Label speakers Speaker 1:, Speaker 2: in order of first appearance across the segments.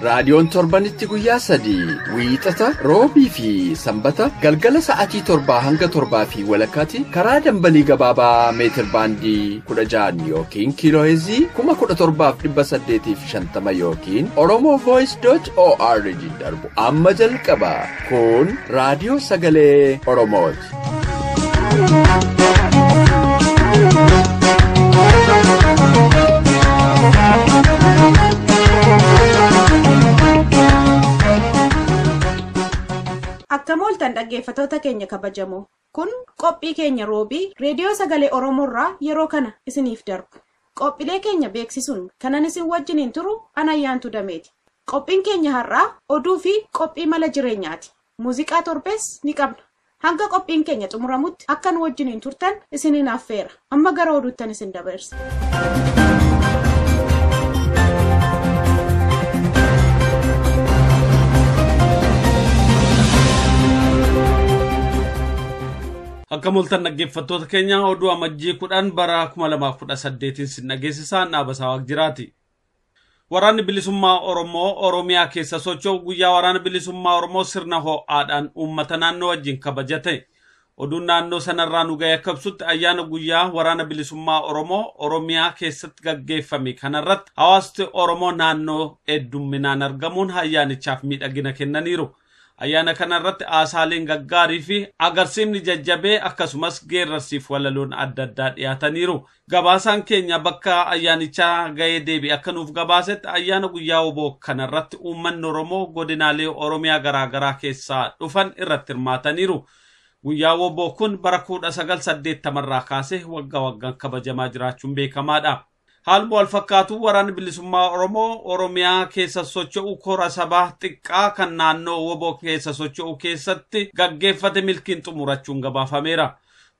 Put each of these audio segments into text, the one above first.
Speaker 1: Raadiyoon torbanitti guyyaa sadii wiixata roobii fi sanbata galgala sa'atii torbaa hanga torbaa fi walakkaatti karaa dambalii gabaabaa meetir baandii kudha ja'an yookiin kiilooheezii kuma kudha torbaaf dhibba saddeetii fi shantama yookiin oromoo voice dot org darbu amma jalqaba kun raadiyoo sagalee oromooti.
Speaker 2: Akkam ooltan dhaggeeffatoota keenya kabajamoo. Kun qophii keenya roobii reediyoo sagalee Oromoorraa yeroo kana isiniif darbu. Qophiilee keenya beeksisuun kanan isin wajjiniin turu anayyaantu dameeti. Qophiin keenya har'aa oduu fi qophii mala jireenyaati. Muuziqaa torbees ni qabna. Hanga qophiin keenya xumuramutti akka nu wajjiniin turtan isiniin affeera. Amma gara oduuttan isin dabarsa.
Speaker 3: Akka mul'atan dhaggeeffattoota keenya oduu amajjii kudhan bara 2018 sin dhageessisaa naabasaa waaqjiraati. Waraanni Bilisummaa Oromoo Oromiyaa keessa socho'u guyyaa Waraana Bilisummaa Oromoo sirna ho'aadhaan uummata naannoo wajjin kabajate. Oduun naannoo sanarraa nu ga'e akka ibsutti ayyaana guyyaa Waraana Bilisummaa Oromoo Oromiyaa keessatti gaggeeffame kanarratti hawaasti Oromoo naannoo heddumminaan argamuun ayyaanichaaf miidhagina kennaniiru. Ayyaana kana irratti haasaaleen gaggaarii fi agarsiifni jajjabee akkasumas geerrarsiif walaloon adda addaa dhiyaataniiru. Gabaasaan keenya bakka ayyaanichaa ga'ee deebi akka nuuf gabaasetti ayyaana guyyaa oboo kana irratti uummanni Oromoo godinaalee Oromiyaa garaagaraa keessaa dhufan irratti hirmaataniiru. Guyyaa oboo kun bara 1980 irraa kaasee waggaa waggaan kabajamaa jiraachuun beekamaadha. Haaluma wal fakkaatuun waraanni bilisummaa Oromoo Oromiyaa keessa socho'u kora sabaa xiqqaa kan naannoo wbo keessa socho'u keessatti gaggeeffate milkiin xumurachuun gabaafameera.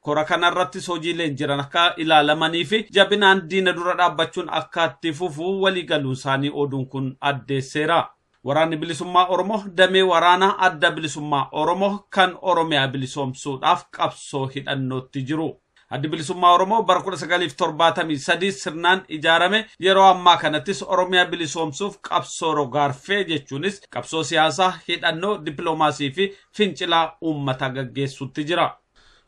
Speaker 3: Kora kanarrattis hojiileen jiran akka ilaalamanii fi jabinaan diina dura dhaabbachuun akka itti fufu waliigaluunsaanii oduun kun addeesseera. Waraanni Bilisummaa Oromoo damee waraanaa Adda Bilisummaa Oromoo kan Oromiyaa bilisoomsuudhaaf qabsoo hidhannootti jiru. Addi Bilisummaa Oromoo bara 1973 sirnaan ijaarame yeroo ammaa kanattis Oromiyaa bilisoomsuuf qabsoo rogaarfee jechuunis qabsoo siyaasaa, hidhannoo, dippiloomaasii fi fincilaa uummataa gaggeessuutti jira.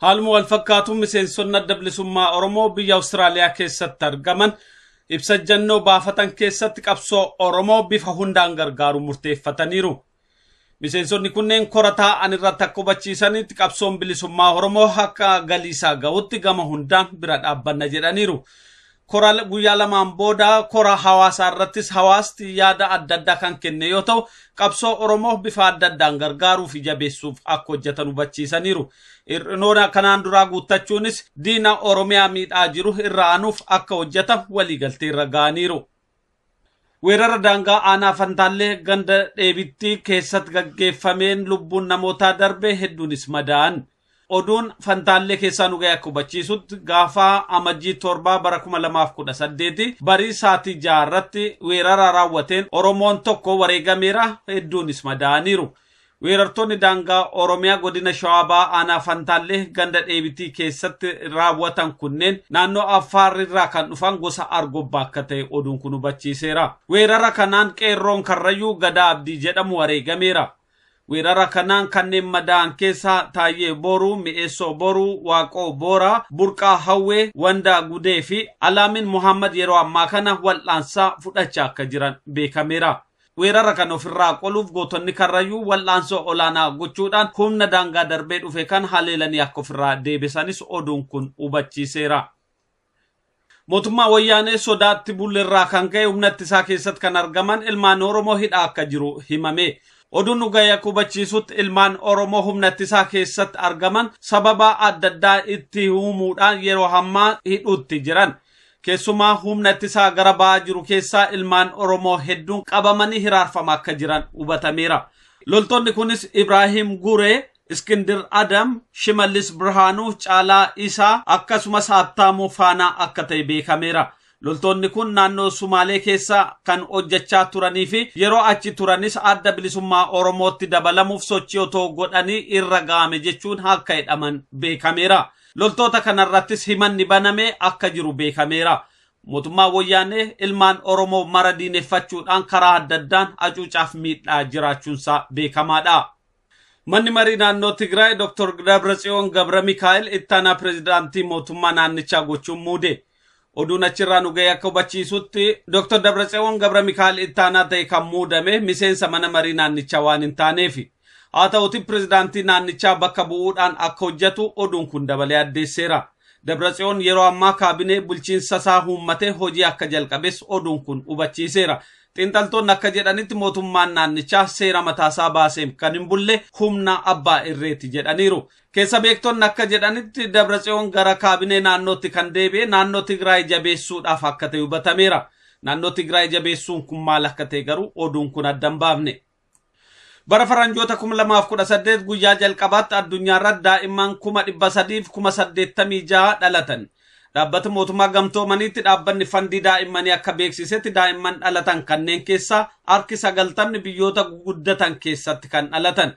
Speaker 3: Haaluma wal fakkaatuun miseensonni adda bilisummaa Oromoo biyya Awustiraaliyaa keessatti argaman ibsa ejjannoo baafatan keessatti qabsoo Oromoo bifa hundaan gargaaruun murteeffataniiru. Miseensonni kunneen kora taa'an irratti akka hubachiisanitti qabsoon bilisummaa Oromoo akka galiisaa ga'utti gama hundaan bira dhaabbanna jedhaniiru. Kora guyyaa lamaan booda kora hawaasaa irrattis hawaasti yaada adda addaa kan kenne yoo ta'u, qabsoo Oromoo bifa adda addaan gargaaruu fi jabeessuuf akka hojjetan hubachiisaniiru. Hir'inoona kanaan duraa guuttachuunis diina Oromiyaa miidhaa jiru irra aanuuf akka hojjetan waliigaltee irra ga'aniiru. Weerara daangaa aanaa Fantaallee ganda dheebitti keessatti gaggeeffameen lubbuun namootaa darbe hedduunis madaa'an. Oduun Fantaallee keessaa nu ga'e akka hubachiisutti gaafa amajjii torbaa bara 2018 barii saatii ja'a irratti weerara raawwateen Oromoon tokko wareegameera hedduunis madaa'aniiru. Weerartoonni daangaa Oromiyaa godina Shawaa Bahaa aanaa Fantaallee ganda Dheebitii keessatti raawwatan kunneen naannoo Affaar irraa kan dhufan gosa Argobbaa akka ta'e oduun kun hubachiiseera. Weerara kanaan qeerroon Karrayyuu Gadaa Abdii jedhamu wareegameera. Weerara kanaan kanneen madaa'an keessaa Taayyee Booruu, Mi'eessoo Booruu, Waaqoo Booraa, Burqaa Hawwee, Wandaa Gudee fi Alaamin Muhammad yeroo ammaa kana wal'aansaa fudhachaa akka jiran beekameera. Weerara kana ofirraa qoluuf gootonni Karrayyuu wal'aansoo olaanaa gochuudhaan humna daangaa darbee dhufe kana haleelanii akka ofirraa deebisanis oduun kun hubachiiseera. Mootummaa Wayyaanee sodaatti bullerraa kan ka'e humna ittisaa keessatti kan argaman ilmaan Oromoo hidhaa akka jiru himame. Oduun nu gahe akka hubachiisutti ilmaan Oromoo humna ittisaa keessatti argaman sababa adda addaa itti uumuudhaan yeroo hammaa hidhuutti jiran. Keessumaa humna ittisaa gara ba'aa jiru keessaa ilmaan Oromoo hedduun qabamanii hiraarfamaa akka jiran hubatameera. Loltoonni kunis Ibraahim Guree, Iskindir Adam, Shimallis Birhaanuu, Caalaa Isaa akkasumas Habtaamuu Faanaa akka ta'e beekameera. Loltoonni kun naannoo Sumaalee keessa kan hojjechaa turanii fi yeroo achi turanis adda bilisummaa Oromootti dabalamuuf sochii otoo godhanii irra ga'ame jechuun akka hidhaman beekameera. Loltoota kanarrattis himanni baname akka jiru beekameera. Mootummaan Woyyaanee ilmaan Oromoo mara diineffachuudhaan karaa adda addaan acuucaaf miidhaa jiraachuunsaa beekamaadha. Manni Marii Naannoo Tigraay Dr. Dabratsiyoon Gabramikaa'el ittaanaa pirezidaantii mootummaa naannichaa gochuun muude. Oduun achirraa nu ga'e akka hubachiisutti Dr. Dabratsewoon Gabra Mikaa'el ittaanaa ta'e kan muudame miseensa mana marii naannichaa waan hin taaneefi. Haa ta'uti pirezidaantii naannichaa bakka bu'uudhaan akka hojjetu oduun kun dabalee addeesseera. Dabratsewoon yeroo ammaa kaabinee bulchiinsa isaa huummatee hojii akka jalqabes oduun kun hubachiiseera. Xiinxaltoonni akka jedhanitti mootummaan naannichaa seera mataasaa baaseef kan hin bulle humna abbaa irreeti jedhaniiru. Keessa beektonni akka jedhanitti Dabratsiyoon gara kaabinee naannootti kan deebi'e naannoo Tigraay jabeessuudhaaf akka ta'e hubatameera. Naannoo Tigraay jabeessuun kun maal akka ta'e garuu oduun kun adda hin baafne. Bara faranjoota 2018 guyyaa jalqabaatti addunyaarra daa'imman 386,000 dhalatan. Dhaabbata mootummaa gamtoomaniitti dhaabbanni fandii daa'immanii akka beeksisetti daa'imman dhalatan kanneen keessaa harki sagaltamni biyyoota guguddatan keessatti kan dhalatan.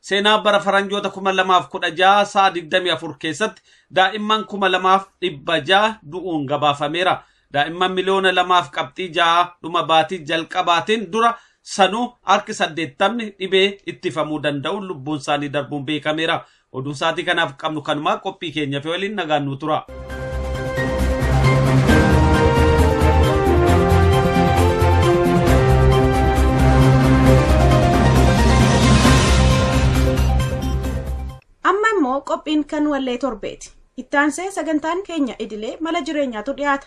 Speaker 3: Seenaa bara faranjoota 2016 sa'a 24 keessatti daa'imman 2,600 du'uun gabaafameera. Daa'imman miliyoona lamaaf qabxii ja'a dhuma baatii jalqabaatiin dura sanuu harki saddeettamni dhibee ittifamuu danda'uun lubbuun isaanii darbuun beekameera. Oduun sa'aatii kanaaf qabnu kanumaa qophii keenya fi waliin nagaan nuu tura.
Speaker 2: Amma immoo qophiin kan wallee torbeeti. Ittaansee sagantaan keenya idilee mala jireenyaatu dhiyaata.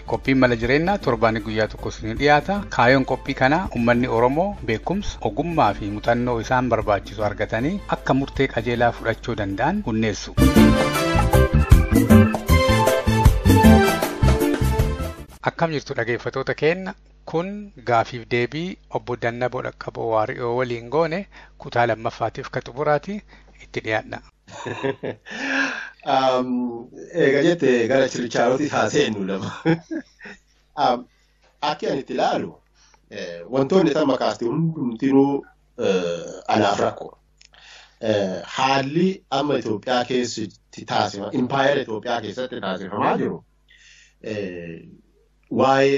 Speaker 4: Qophiin Mala Jireennaa torbaanii guyyaa tokko isinii dhiyaata. Kaayoon qophii kanaa ummanni Oromoo beekumsa, ogummaa fi muxannoo isaan barbaachisu argatanii akka murtee qajeelaa fudhachuu danda'an hunneessu. Akkam jirtu dhageeffatoota keenna kun gaafiif deebii obbo Dannaboo Dhaqqaboo Waari'oo waliin goone kutaa lammaffaatiif ka xumuraati itti dhiyaadha.
Speaker 5: Egaa jette gara chirchaarooti haa seennu lama. Akki ani itti ilaalu wantoonni tamma kaaste hundumtinuu anaaf rakkoo. Haalli amma Itoophiyaa keessatti taasifama, impaayera Itoophiyaa keessatti taasifamaa jiru waa'ee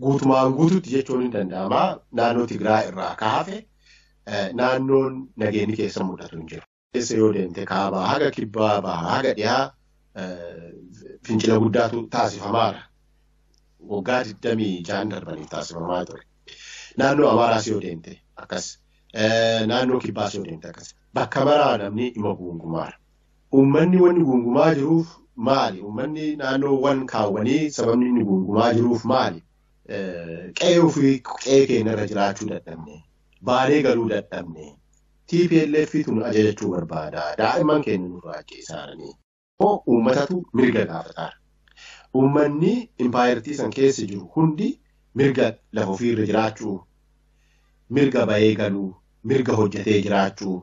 Speaker 5: Guutumaan guututti jechuun hin danda'ama. Naannoo Tigraay irraa akka hafe naannoon nageenyi keessa mul'atu hin jiru. Keessa yoo deemte kaabaa haga kibbaa bahaa haga dhiyaa fincila guddaatu taasifamaara. Waggaa 26 darbaniif taasifamaa ture. Naannoo Amaaraas yoo deemte akkas. Naannoo kibbaas yoo deemte akkas. Bakka maraa namni dhimma guungumaara. Uummanni wanni guungumaa jiruuf maali? Uummanni naannoo wan kaawwanii sababni inni guungumaa jiruuf maali? Qe'ee ofii qe'ee keenya irra jiraachuu dadhabne. Baanee galuu dadhabne. TPLF tun ajajachuu barbaada. Daa'imman keenya nurraa ajjeesaaranii. Uummatatu mirga gaafataara. Uummanni impaayertii san keessa jiru hundi mirga lafa ofiirra jiraachuu, mirga bahee galuu, mirga hojjetee jiraachuu,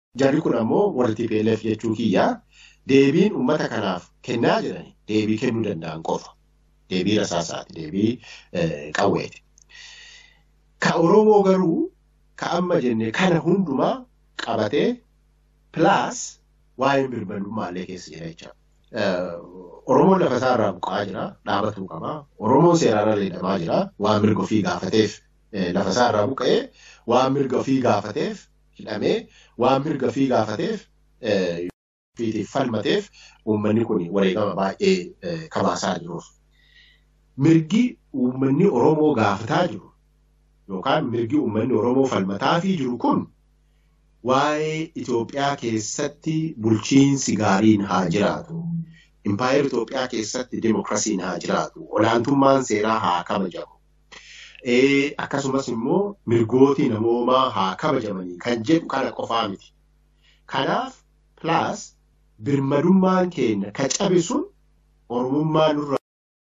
Speaker 5: Jarri kun ammoo warri tplf jechuu kiyya deebiin uummata kanaaf kennaa jirani deebii kennuu danda'an qofa. Deebii rasaasaati, deebii qawweeti. Ka Oromoo garuu ka amma jenne kana hundumaa qabatee pilaas waa'een birmadummaa illee keessa jira jecha. Oromoon lafa isaa irraa buqqa'aa jira, dhaabatuu qaba. Oromoon seeraan ala hidhamaa jira, waan mirga ofii gaafateef lafa isaa irraa buqqa'ee waan mirga ofii gaafateef hidhamee waan mirga fii gaafateef fiitiif falmateef uummanni kun wareegama baay'ee kabaasaa jiruuf. Mirgi uummanni Oromoo gaafataa jiru yookaan mirgi uummanni Oromoo falmataafii jiru kun waa'ee Itoophiyaa keessatti bulchiinsi gaariin haa jiraatu, impaayera Itoophiyaa keessatti demokrasiin haa jiraatu, olaantummaan seeraa haa kabajamu, Akkasumas immoo mirgooti namoomaa haa kabajamanii kan jedhu kana qofaa miti. Kanaaf plus birmadummaan keenya ka cabe sun Oromummaa nurra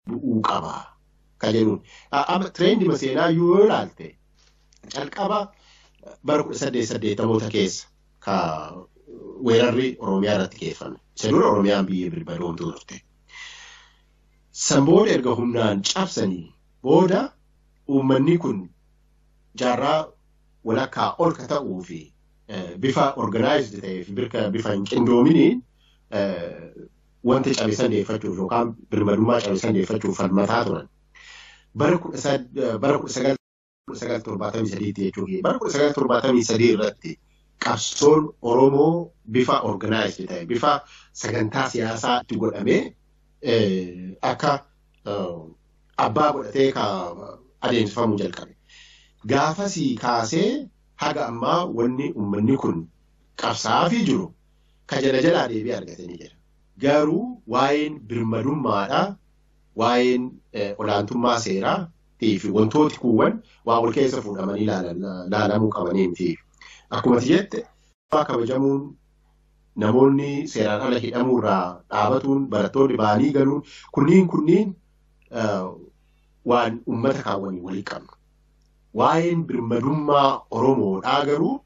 Speaker 5: bu'uu qaba ka jedhuun. Amma tireendima seenaa yoo ilaalte calqaba bara 1880moota keessa ka weerarri Oromiyaa irratti geeffame. Isa dura Oromiyaan biyya birmadoomtuu turte. San booda erga humnaan cabsanii booda uummanni kun jaarraa walakkaa ol ka ta'uu fi bifa organized ta'ee fi birka bifa hin qindoominiin wanta cabe san deeffachuuf yookaan birmadummaa cabe san deeffachuuf falmataa turan. Bara kudha sagal 1973 tti jechuu kiyya. Bara 1973 irratti qabsoon Oromoo bifa organized ta'e, bifa sagantaa siyaasaa itti godhamee eh, akka eh, abbaa godhatee ka adeemsifamuu jalqabe. Gaafasii kaasee haga ammaa wanni uummanni kun qabsaa'aafii jiru ka jala jalaa deebii argatanii jira. Garuu waa'een birmadummaadha, waa'een eh, olaantummaa seeraa, fi wantooti kuuwwan waa wal keessa fuudhamanii laalamuu qabanii miti. Akkuma ati jette kabajamuun namoonni seeraan ala hidhamuu irraa dhaabatuun barattoonni ba'anii galuun kunniin kunniin waan uummata kaawwanii walii qabnu. Waa'een birmadummaa Oromoodhaa garuu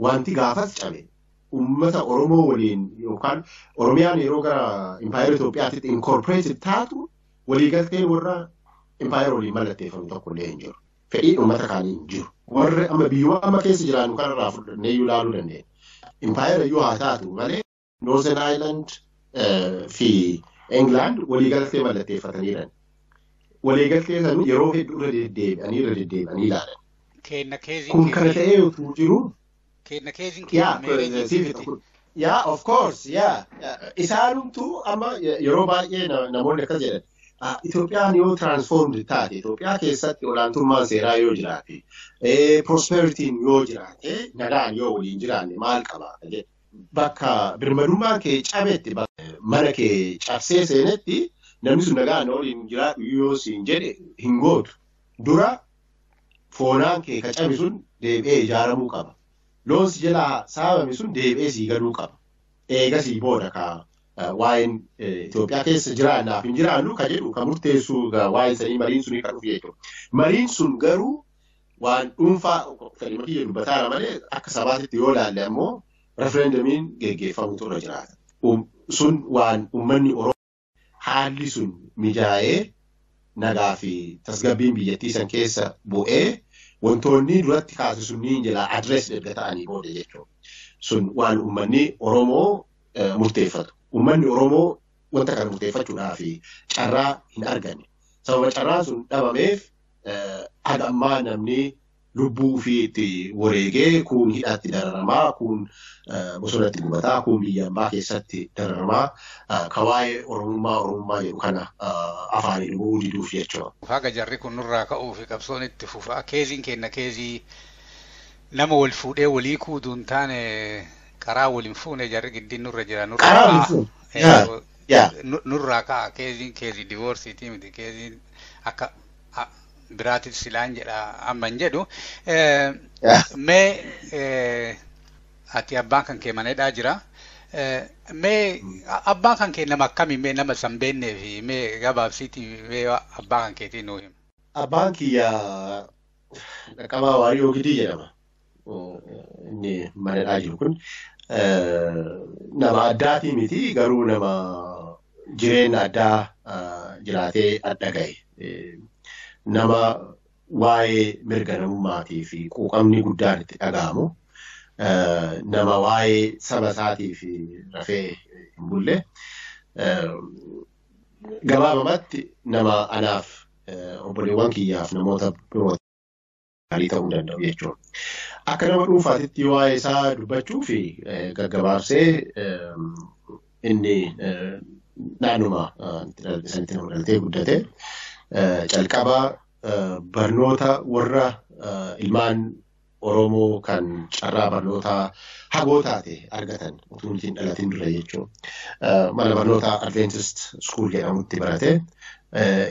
Speaker 5: wanti gaafas cabe uummata Oromoo waliin yookaan Oromiyaan yeroo gara Impaayera Itoophiyaatti inkorporeeted taatu waliigalteen warra impaayera waliin mallatteeffame tokko illee hin jiru. Fedhiin uummata kaanii hin jiru. Warri amma biyyuma amma keessa jiraannu kanarraa fudhannee iyyuu ilaaluu dandeenya. Impaayera iyyuu haa taatu malee Northern Ireland fi England waliigaltee mallatteeffataniiran. Waliigaltee san yeroo hedduu irra deddeebi'anii irra deddeebi'anii ilaalan. Kun kana ta'ee utuu jiru Keenna keeziin keenna Yeah, meereejii siif itti. kun- yeah, of course, yeah. Isaanumtu amma yeroo baay'ee na- namoonni akkas jedhan. Ah, Itoophiyaan yoo transformed taate, Itoophiyaa keessatti olaantummaan seeraa yoo jiraate, eh, prosperity'n yoo jiraate, nagaan yoo waliin jiraanne maal qaba? jedhe. Bakka birmadummaan kee cabetti, bakka mana kee cabsee seenetti, namni sun nagaan waliin jiraadhu yoo siin jedhe hin gootu. Dura foonaan kee ka cabe sun deebi'ee ijaaramuu qaba. Loon si jalaa saamame sun deebi'ee sii galuu qaba. Eegasii booda ka waa'een Itoophiyaa keessa jiraannaaf hin jiraannu ka jedhu ka murteessu waa'een sanii mariin sunii kan dhufu jechuudha. Mariin sun garuu waan dhuunfaa fedhima kiyya dubbataara malee akka sabaatitti yoo ilaalle ammoo referendamiin geggeeffamutu irra jiraata. Sun waan uummanni Oromoo haalli sun mijaa'ee nagaa fi tasgabbiin biyyattii san keessa bu'ee wantoonni duratti kaase sunniin jala adrees erga ta'anii booda jechuudha. Sun waan uummanni Oromoo murteeffatu. Uummanni Oromoo wanta kana murteeffachuudhaaf carraa hin arganne. Sababa carraan sun dhabameef haga ammaa namni lubbuu ufii itti wareegee kuun hidhaatti dararamaa kuun bosonatti gubataa kuun biyya ambaa keessatti dararamaa ka waa'ee oromummaa oromummaa jedhu kana afaanii dhuguu diduuf jechuudha. Haga jarri kun nurraa
Speaker 4: ka'uu fi qabsoon itti fufaa keeziin kenna keezii nama wal fuudhee walii kuudu hin taane karaa wal hin fuune jarri giddiin nurra jira nurra Karaa wal hin fuune. Yaa, yaa. nurraa ka'a keeziin keezii divoorsiitii miti keeziin akka biraatiif silaan jedha amma hin jedhu. Mee ati abbaan kan kee manadhaa jira. Mee abbaan kan kee nama akkamii mee nama san beennee fi mee gabaabsiitii mee abbaa kan keetii nuu hima. Abbaan kiyya
Speaker 5: dhaqqabaa waariyoo gidii jedhama. inni madadhaa jiru kun nama addaatii miti garuu nama jireenya addaa jiraatee adda gahe nama waa'ee mirga namummaatii fi quuqamni guddaan itti dhaga'amu nama waa'ee saba isaatii fi rafee hin bulle gabaabamatti nama anaaf obboleewwan kiyyaaf namoota biroo gaarii ta'uu danda'u jechuudha. Akka nama dhuunfaatitti waa'ee isaa dubbachuu fi gaggabaabsee inni naannuma isanitti nama dhalatee guddate calqaba barnoota warra ilmaan Oromoo kan carraa barnootaa hagoo taate argatan utuu hin dhalatin dura jechuudha. Mana barnootaa Adventist School jedhamutti barate.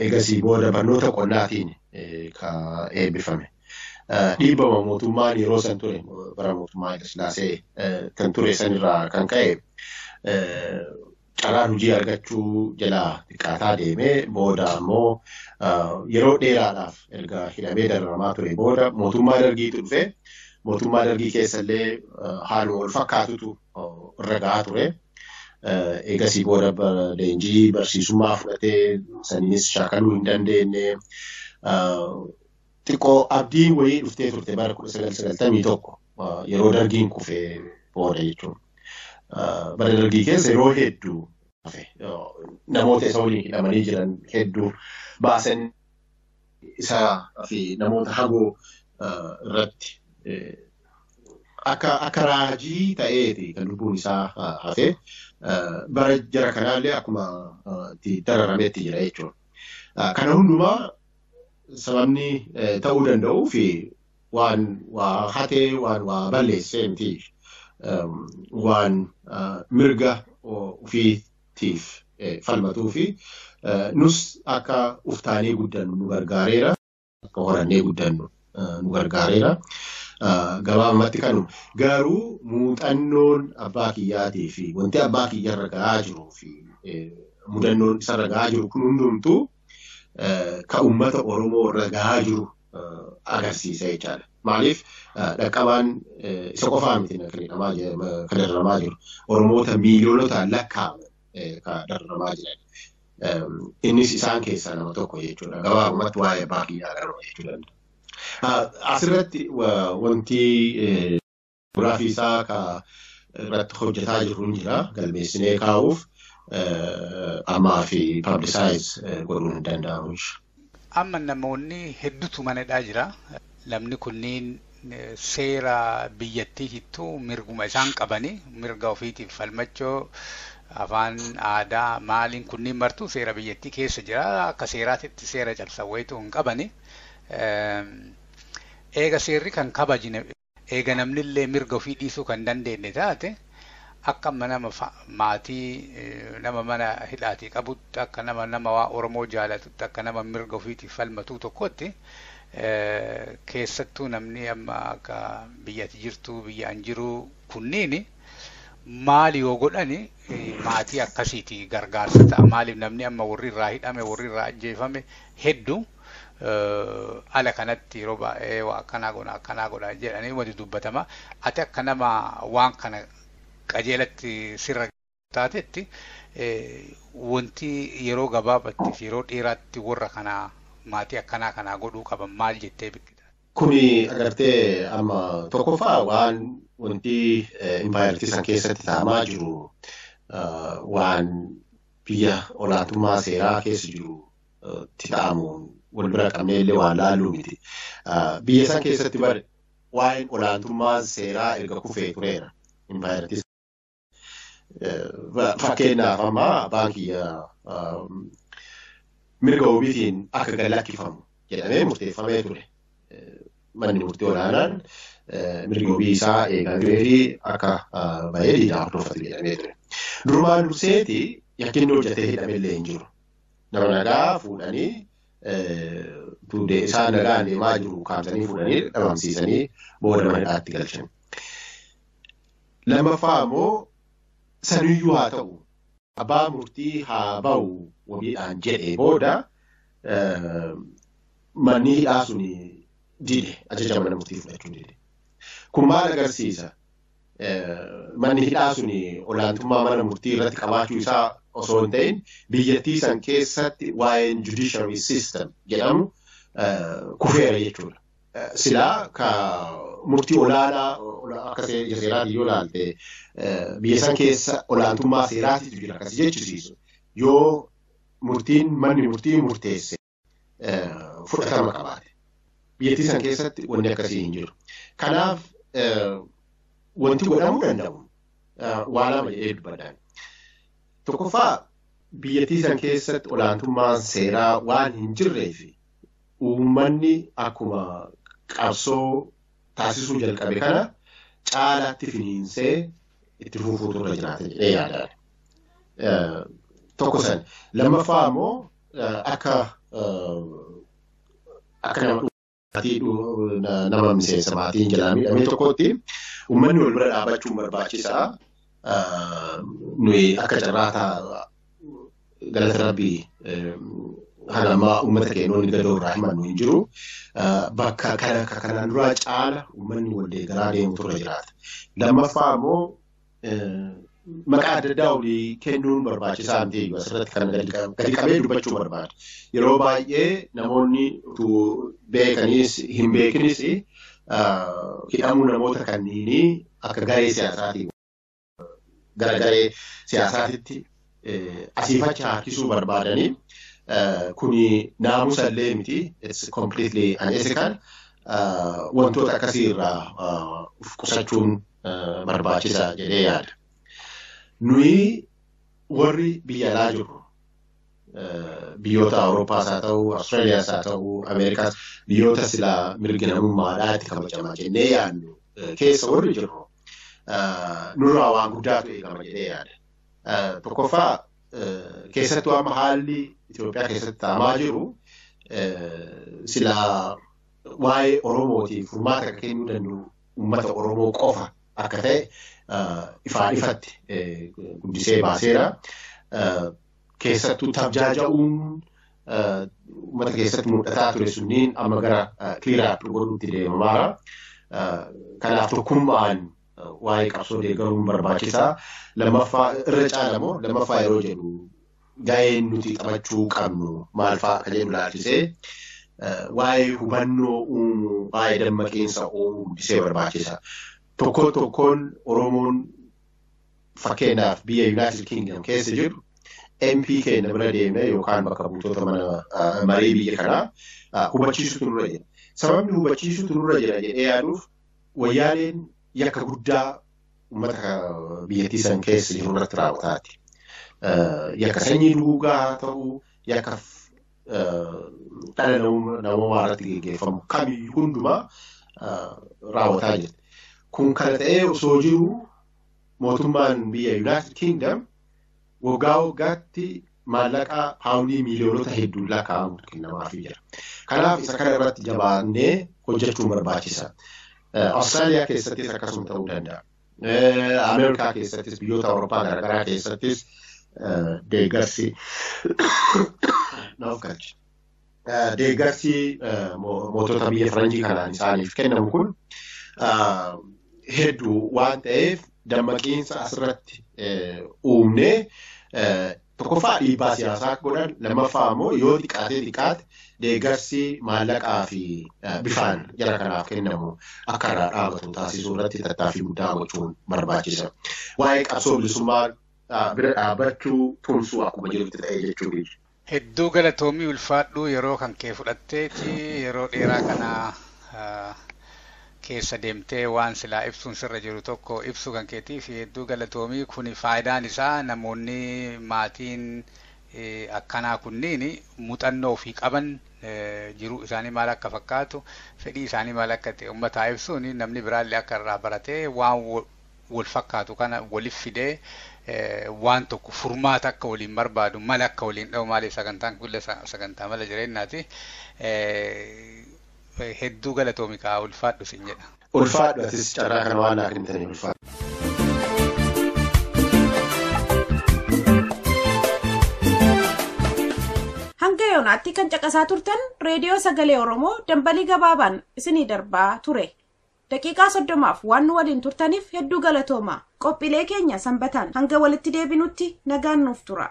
Speaker 5: Egasii booda barnoota qonnaatiin ka eebbifame. Dhiibbama mootummaan yeroo san ture bara mootummaa Haile Sillaasee kan ture sanirraa kan ka'e carraan hojii argachuu jalaa xiqqaataa deemee booda ammoo yeroo dheeraadhaaf erga hidhamee dararamaa ture booda mootummaa dargiitu dhufe mootummaa dargii keessallee haaluma wal fakkaatutu irra gahaa ture. Eegasii booda leenjii barsiisummaa fudhatee saniinis shaakaluu hin dandeenye. Xiqqoo abdiin wayii dhuftee turte bara kudha sagal sagaltamii tokko yeroo dargiin kufee booda jechuudha. Bara dargii keessa yeroo hedduu namoota isa waliin hidhamanii jiran hedduu baasan isaa fi namoota hagoo irratti akka raajii ta'eeti kan lubbuun isaa hafe bara jara kanaallee akkuma itti dararametti jira jechuudha. Kana hundumaa sababni ta'uu danda'uu fi waan waa hatee waan waa balleessee miti waan mirga ofii tiif falmatuu fi nus akka uftaanee guddannu nu gargaareera. Akka horannee guddannu nu gargaareera. Gabaabumatti kanuma. Garuu muuxannoon abbaa kiyyaatii fi wanti abbaa kiyyarra ga'aa jiruu fi mudannoon isarra ga'aa jiru kun hundumtuu kan uummata Oromoo irra gahaa jiru agarsiisa jechaadha. Maaliif dhaqqabaan isa qofaa miti kan dararamaa jiru. Oromoota miiliyoonotaan lakkaa'aman kan dararamaa jiran. Innis isaan keessaa nama tokko jechuudha. Gabaabumatti waa'ee abbaa kiyyaa garuu jechuu danda'a. Asirratti wanti Giraafii isaa akka irratti hojjetaa jirru hin jira. Galmeessinee kaa'uuf ammaa fi paablisaayiz godhuun hin danda'amu. Amma
Speaker 4: namoonni hedduutu mana hidhaa jira. Namni kunniin seera biyyattiitittu mirguma isaan qabanii mirga ofiitiif falmachoo afaan aadaa maaliin kunniin martuu seera biyyattii keessa jira. Akka seeraatitti seera cabsan wayituu hin qabani. Eega seerri kan kabajne. Eega namnillee mirga ofii dhiisuu kan hin dandeenne taate, akka amma nama fa, maatii nama mana hidhaatii qabutti, akka nama nama waan Oromoo jaalatutti, akka nama mirga ofiitiif falmatuu tokkootti, keessattuu namni amma akka biyya ati jirtuu, biyya an jiruu kunniini maal yoo godhani maatii akkasiiti gargaarsa ta'a. Maaliif namni amma warri irraa hidhame, warri irraa ajjeefame heddu. ala kanatti yeroo baay'ee waa akkanaa godha akkanaa godha jedhanii wadi dubbatama ati akka nama waan kana qajeelatti sirra taatetti wanti yeroo gabaabatti fi yeroo dheeraatti warra kanaa maatii akkanaa kanaa godhuu qaban maal jettee bikkita. Kuni agartee
Speaker 5: amma tokkoffaa waan wanti impaayartii san keessatti taamaa jiru waan biyya olaantummaa seeraa keessa jiru itti ta'amu wal bira qabnee illee waan laalluu miti. Biyya san keessatti bar waa'een olaantummaa seeraa erga kufee tureera. Impaayerattis fakkeenyaaf amma abbaan kiyya mirga wabiitiin akka gad lakkifamu jedhamee murteeffamee ture. Manni murtii olaanaan mirgi wabii isaa eegamee fi akka bahee diinaa hordofatu jedhamee ture. Durumaan durseeti yakkinni hojjetee hidhame illee hin jiru. Nama nagaa fuudhanii tuddee isaan nagaan deemaa jiru kaamsanii fuudhanii dhabamsiisanii booda mana hidhaatti galchan. Lammaffaa immoo saniyyuu haa ta'u abbaa murtii haa ba'u wabiidhaan jedhee booda manni hidhaa sun dide ajaja mana murtii fudhachuu dide. Kun maal agarsiisa? manni hidhaa sun olaantummaa mana murtii irratti qabaachuu isaa osoo hin ta'in biyyattii san keessatti waa'een judiciary system jedhamu kufeera jechuudha. Silaa ka murtii olaanaa akka seeraati yoo ilaalte biyya san keessa olaantummaa seeraatitu jira akkasi jechisiisu yoo murtiin manni murtii murteesse. fudhatama qabaate. Biyyattii san keessatti wanni akkasii hin jiru. Kanaaf wanti godhamuu danda'u waa lama jedhee dubbadhaan. Tokkoffaa biyyattii san keessatti olaantummaan seeraa waan hin jirree fi uummanni akkuma qabsoo taasisuu jalqabe kana caalaatti finiinsee itti fufuutu irra jiraata jedhee yaadaan. Tokko san lammaffaa immoo akka akka nama maatii nama miseensa maatiin jalaa miidhamee tokkotti uummanni wal bira dhaabachuun barbaachisaa nuyi akka carraataa galata rabbii haala ammaa uummata keenoonni gadoo irraa himannu hin jiru. Bakka kana kanaan duraa caala uummanni wal deeggaraa deemutu irra jiraata. Lammaffaa immoo maqaa adda addaa olii kennuun barbaachisaa miti eeyyuu asirratti kan gadi qabee dubbachuu barbaada. Yeroo baay'ee namoonni utuu beekaniis hin beekinis hidhamuu namoota kanniinii akka garee siyaasaatiin gara garee siyaasaatitti asiif achi harkisuu barbaadanii kuni naamusa illee miti it's completely unethical wantoota akkasii irraa of qusachuun barbaachisa jedhee yaada. Nuyi warri biyya alaa jirru biyyoota Awurooppaas haa ta'u, Awustiraaliyaas haa ta'u, Ameerikaas biyyoota silaa mirgi namummaadhaa itti kabajamaa jennee yaadnu keessa warri jirru nurraa waan guddaatu eegama jedhee yaada. Tokkoffaa keessattuu amma haalli Itoophiyaa keessatti ta'amaa jiru silaa waa'ee Oromootiif furmaata akka kennuu danda'u uummata Oromoo qofa akka ta'e ifaa ifatti guddisee baaseera. Keessattuu tabjaaja'uun uummata keessatti mul'ataa ture sunniin amma gara kiliiraatti godhuutti deemamaara. Kanaaf tokkummaan waa'ee qabsoo deeggaruun barbaachisaa lammaffaa irra caalamoo lammaffaa yeroo jedhu ga'een nuti taphachuu qabnu maalfaa akka jedhu laalchisee waa'ee hubannoo uumuu waa'ee dammaqiinsa uumuu guddisee barbaachisa. Tokko tokkoon Oromoon fakkeenyaaf biyya Yuunaayitid Kingdom keessa jiru MP keenya bira deemee yookaan bakka buutota mana marii biyya kanaa hubachiisutu nurra jira. Sababni hubachiisutu nurra jira jedhee yaaduuf Wayyaaneen yakka guddaa uummata biyyattii san keessa jiru irratti raawwataati. Yakka sanyii duguugaa haa ta'u, yakka dhala namoomaa irratti geggeeffamu kamiyyuu hundumaa raawwataa jirti. Kun kana ta'ee osoo jiru mootummaan biyya Yuunaayitid Kiingdam waggaa waggaatti maallaqa paawundii miiliyoonota hedduun lakkaa'amutu kennamaafii jira. Kanaaf isa kana irratti jabaannee hojjechuun barbaachisa. Awustiraaliyaa keessattis akkasuma ta'uu danda'a. Ameerikaa keessattis biyyoota Awurooppaa garaagaraa keessattis deeggarsi naaf galcha. deeggarsi mootota biyya faranjii kanaan isaaniif kennamu kun hedduu waan ta'eef dammaqiinsa asirratti uumnee tokkoffaa dhiibbaa siyaasaa godhan lammaffaa immoo yoo xiqqaatee xiqqaate deeggarsi maallaqaa fi bifaan jara kanaaf kennamu akka irraa dhaabatu taasisuu irratti tattaaffii guddaa gochuun barbaachisa. Waa'ee qabsoo bilisummaa bira dhaabbachuu tumsuu akkuma jirutti ta'e jechuudha. Hedduu galatoomii
Speaker 4: ulfaadhuu yeroo kan kee fudhatteeti yeroo dheeraa kana keessa deemtee waan silaa ibsuun sirra jiru tokko ibsuu kan keetiif hedduu galatoomii kuni faayidaan isaa namoonni maatiin akkanaa kunniin muuxannoo ofii qaban jiruu isaanii maal akka fakkaatu fedhii isaanii maal akka ta'e ummataa ibsuun namni biraallee akka irraa baratee waan wal fakkaatu kana walif fidee waan tokko furmaata akka waliin barbaadu mala akka waliin dha'u maaliif sagantaan kulle sagantaa mala jireenyaati hedduu galatoomi kaa ulfaadhu sin jedha. Ulfaadhu atis
Speaker 5: carraa kana waan naa kennitaniif ulfaadhu.
Speaker 2: Hanga yoonaatti kan caqasaa turtan reediyoo sagalee Oromoo dambalii gabaabaan isinii darbaa ture. Daqiiqaa 30f waan nu waliin turtaniif hedduu galatoomaa. Qophiilee keenya Sanbataan hanga walitti deebinutti nagaan nuuf tura.